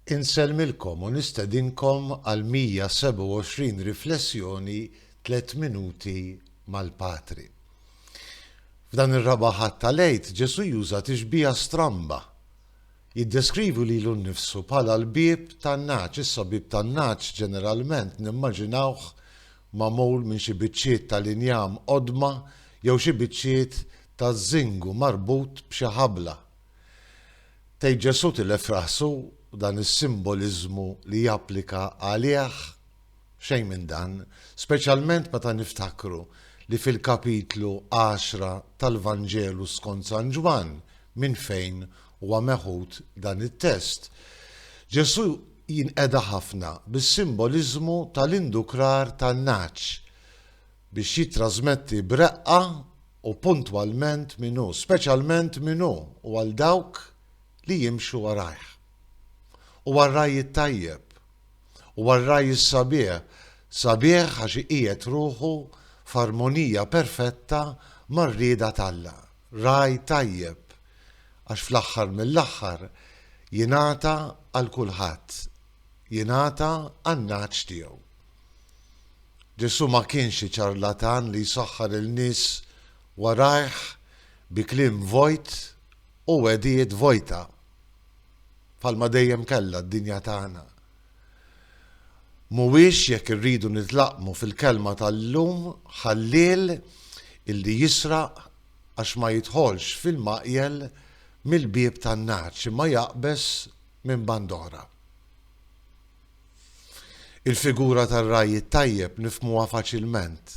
Insellmilkom u nistedinkom għal 127 riflessjoni Tliet Minuti mal-Patri. F'dan ir-Raba' Ħadd tal-Għid, Ġesù juża tixbiha stramba. Jiddeskrivi lilu nnifsu bħala l-bieb tan-nagħaġ. Issa bieb tan-nagħaġ ġeneralment nimmaġinawh magħmul minn xi biċċiet tal-injam qodma jew xi biċċiet ta' żingu marbut b'xi ħabla. Tgħid Ġesù tilef rasu dan is-simboliżmu li japplika għalih? Xejn minn dan, speċjalment meta niftakru li fil-kapitlu għaxra tal-Vanġelu skont San Ġwann minn fejn huwa meħud dan it-test, Ġesù jinqeda ħafna bis-simboliżmu tal-indukrar tan-nagħaġ. biex jittrasmetti b'reqqa u puntwalment min hu, speċjalment min hu u għal dawk li jimxu warajh. Huwa r-ragħaj it-tajjeb. Huwa r-ragħaj is-sabiħ, sabiħ għax iqiegħed ruħu f'armonija perfetta mar-rieda t'Alla. Ragħaj tajjeb, għax fl-aħħar mill-aħħar jingħata għal kulħadd, jingħata għan-nagħaġ tiegħu. Ġesù ma kienx xi ċarlatan li jsaħħar il-nies warajh bi kliem vojt u wegħdijiet vojta, bħalma dejjem kellha d-dinja tagħna. Mhuwiex, jekk irridu nitlaqqmu fil-kelma tal-lum, ħalliel illi jisraq għax ma jidħolx fil-maqjel mill-bieb tan-nagħaġ imma jaqbeż minn bandora. Il-figura tar-ragħaj it-tajjeb nifhmuha faċilment,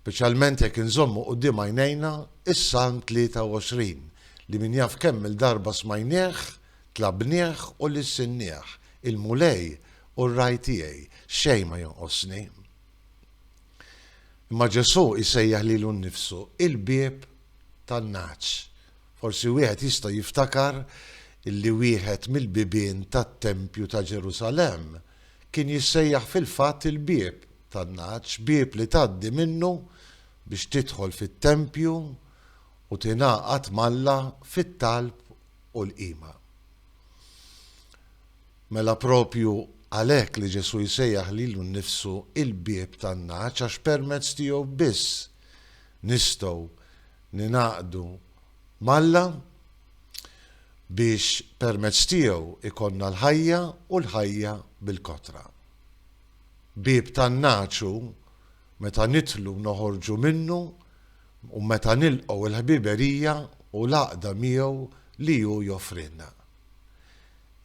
speċjalment jekk inżommu quddiem għajnejna s-Salm 23 li min jaf kemm-il darba smajnieh, tlabnieh u lissinnieh, Il-Mulej hu r-ragħaj tiegħi, xejn ma jonqosni. Imma Ġesù jsejjaħ lilu nnifsu il-bieb tan-nagħaġ Forsi wieħed jista' jiftakar li wieħed mill-bibien tat-tempju ta' Ġerusalemm kien jissejjaħ fil-fatt il-bieb tan-nagħaġ, bieb li tgħaddi minnu biex tidħol fit-tempju u tingħaqad m'Alla fit-talb u l-qima. Mela proprju għalhekk li Ġesù jsejjaħ lilu nnifsu il-bieb tan-nagħaġ għax permezz tiegħu biss nistgħu Ningħaqdu m'Alla biex permezz tiegħu jkollna l-ħajja u l-ħajja bil-kotra. Bieb tan-nagħaġ hu meta nidħlu u noħorġu minnu u meta nilqgħu l-ħbiberija u l-għaqda miegħu li hu joffrilna.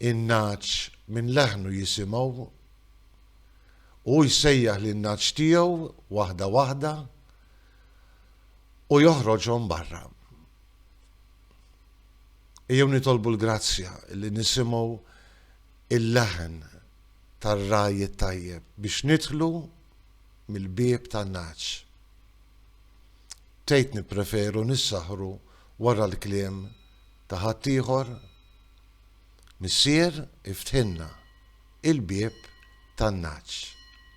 In-nagħaġ minn leħnu jisimgħu. Hu jsejjaħ lin-nagħaġ tiegħu waħda waħda. u joħroġhom barra. Ejjew nitolbu l-grazzja li nisimgħu il-leħen tar-ragħaj it-tajjeb biex nidħlu mill-bieb tan-nagħaġ. Tgħid nippreferu nissaħħru wara l-kliem ta' ħaddieħor? Missier iftħilna il-bieb tan-nagħaġ.